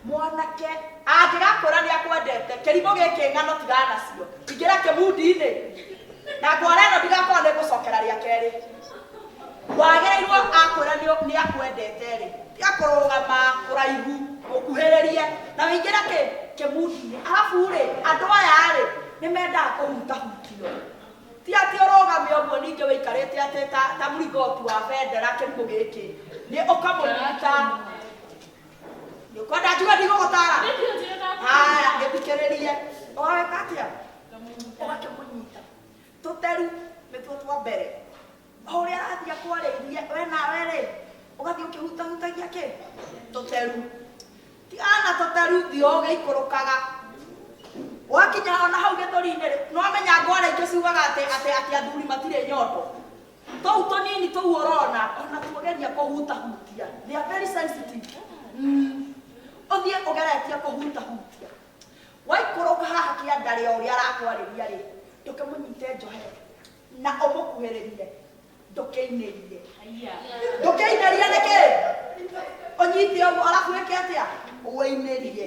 Mwanake angĩgakwĩra nĩakwendete, kĩrimũ gĩkĩ ng'ano tigana nacio. Ingĩra kĩmundi-inĩ na ngwara ĩno ndigakorwo nĩngũcokera rĩa kerĩ. Wagĩrĩirwo akwĩra nĩakwendete-rĩ, tiga kũrũgama kũraihu, mũkuhĩrĩrie na wĩingĩre kĩ? Kĩmundi-inĩ. Arabu-rĩ, andũ aya-rĩ, nĩmendaga kũhutahutio. Ti atĩ ũrũgame ũguo ningĩ wĩikarĩte atĩ ta ta mlingoti wa bendera kĩrimũ gĩkĩ, nĩ ũkamũnyita. Nyũkwa ndanjuga ndigũgũtara. Haya, gĩthikĩrĩrie. Ũgaweka atĩa? Ũgakĩmũnyita. Tũteru nĩtuo twa mbere. O ũrĩa arathiĩ akwarĩirie, we nawe-rĩ, ũgathiĩ ũkĩhutahutagia kĩ? Tũteru. Tigana na tũteru, thiĩ ũgĩikũrũkaga. Wakinya ona hau gĩthũri-inĩ-rĩ, nĩwamenya ngwara ingĩ ciugaga atĩ atĩ atĩ athuri matirĩ nyondo. Tũu tũnini tũu ũrona o na tũgeria kũhutahutia. They are very sensitive. Mm. Ũthiĩ ũgeretie kũhutahutia. Waikũrũka haha kĩandarĩ o ũrĩa arakwarĩria rĩ, ndũkĩmũnyite njohe na ũmũkuhĩrĩrie ndũkĩinĩrie. Ndũkĩinĩrie nĩkĩ? Ũnyite ũguo arabu wĩke atĩa? Ũinĩrie.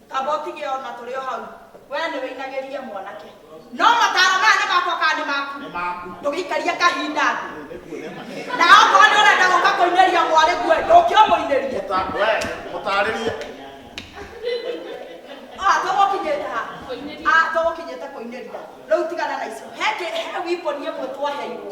kaba ũtige o na tũrĩ o hau wee nĩ wĩinagĩria mwanake no mataro maya nĩ makwa kana nĩ maku nĩ maku ndũgĩikaria kahinda thĩ nĩkuonema na okorwo nĩ ũrenda gũka kũinĩria mwarĩ guo ndũkĩ ũmũinĩrie mũtarĩrie Ah, tũgũkinyĩte ha Ah, tũgũkinyĩte kũinĩria rĩu tigana na icio he kĩ- he wiponi ĩmwe twaheirwo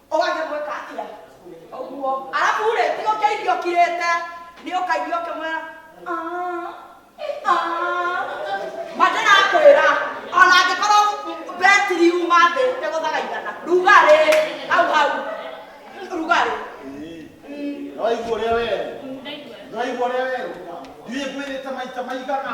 ũgathiĩ gwĩka atĩa ũguo arabu rĩ ti ũkĩ irio kirĩte nĩ ũkaigua ũkĩmwĩra "Ah, ah." ma ndĩrakwĩra ona angĩkorwo betiri yuma thĩ nĩ gũthagaithana rugarĩ hau hau rugarĩ Nĩwaigua ũrĩa werũ? Nĩwaigua ũrĩa werũ? Ndiũĩ ngwĩrĩte maita maigana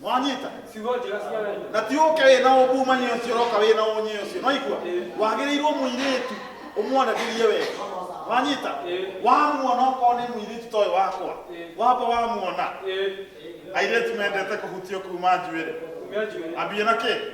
mwanyita Kiugo njega cia wendo. na ti ũke wĩ na ũkumania ũcio ũroka wĩ na ũnyĩ ũcio nwaigua wagĩrĩirwo mũirĩtu ũmwanagĩrie wega wanyita wamuona okorwo nĩ mũirĩtu toĩ wakwa wamba wamuona Ĩĩ. airĩtu mendete kũhutio kuma njuĩrĩ Kumia njuĩrĩ. ambie na kĩ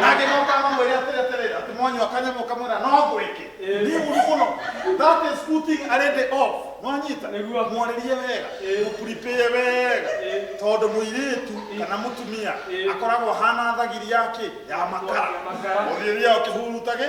nake nokama mwere atereterera ati mwanywa kanyamo kamwira no ngwiki ni uru muno that is putting a lady off nwanyita Nĩguo. mwarĩrie wega mũkuripĩe wega tondũ mũirĩtu kana mũtumia akoragwo hana thagiri yake ya makara Ya makara. ũthiria ũkĩhurutage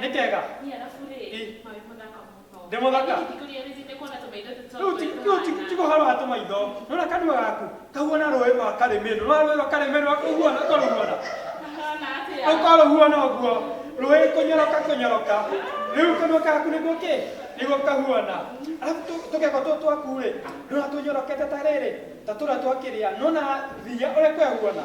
nĩkega ndĩ mũthaka tikũhoro wa tũmaitho nona kanua gaku kahuana rũĩ rwa karĩmĩrũ rwa rũĩ rwa karĩmĩrũ akũhuana ũkarũhuana ũkarũhuana ũguo rũĩ kũnyoroka kũnyoroka rĩu kanua gaku nĩguo kĩ nĩguo kahuana arabu tũkego tũ twaku rĩ nona tũnyorokete ta rĩrĩ ta tũrĩa twakĩrĩa nona thiya ũrĩa kwehuana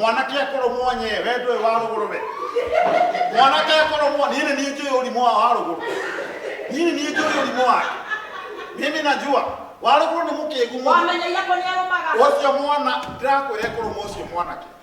mwanake akorwo mwonye we ndũĩ wa rũgũrũ we mwanake akorwo mwa niĩ nĩ niĩ njũĩ ũrimũ wa wa rũgũrũ niĩ nĩ niĩ njũĩ ũrimũ wake mimi najua wa rũgũrũ nĩ mũkĩgu mũno wamenyaia kå nä arå maga ũcio mwana ndĩrakwĩra ĩkũrũma ũcio mwanake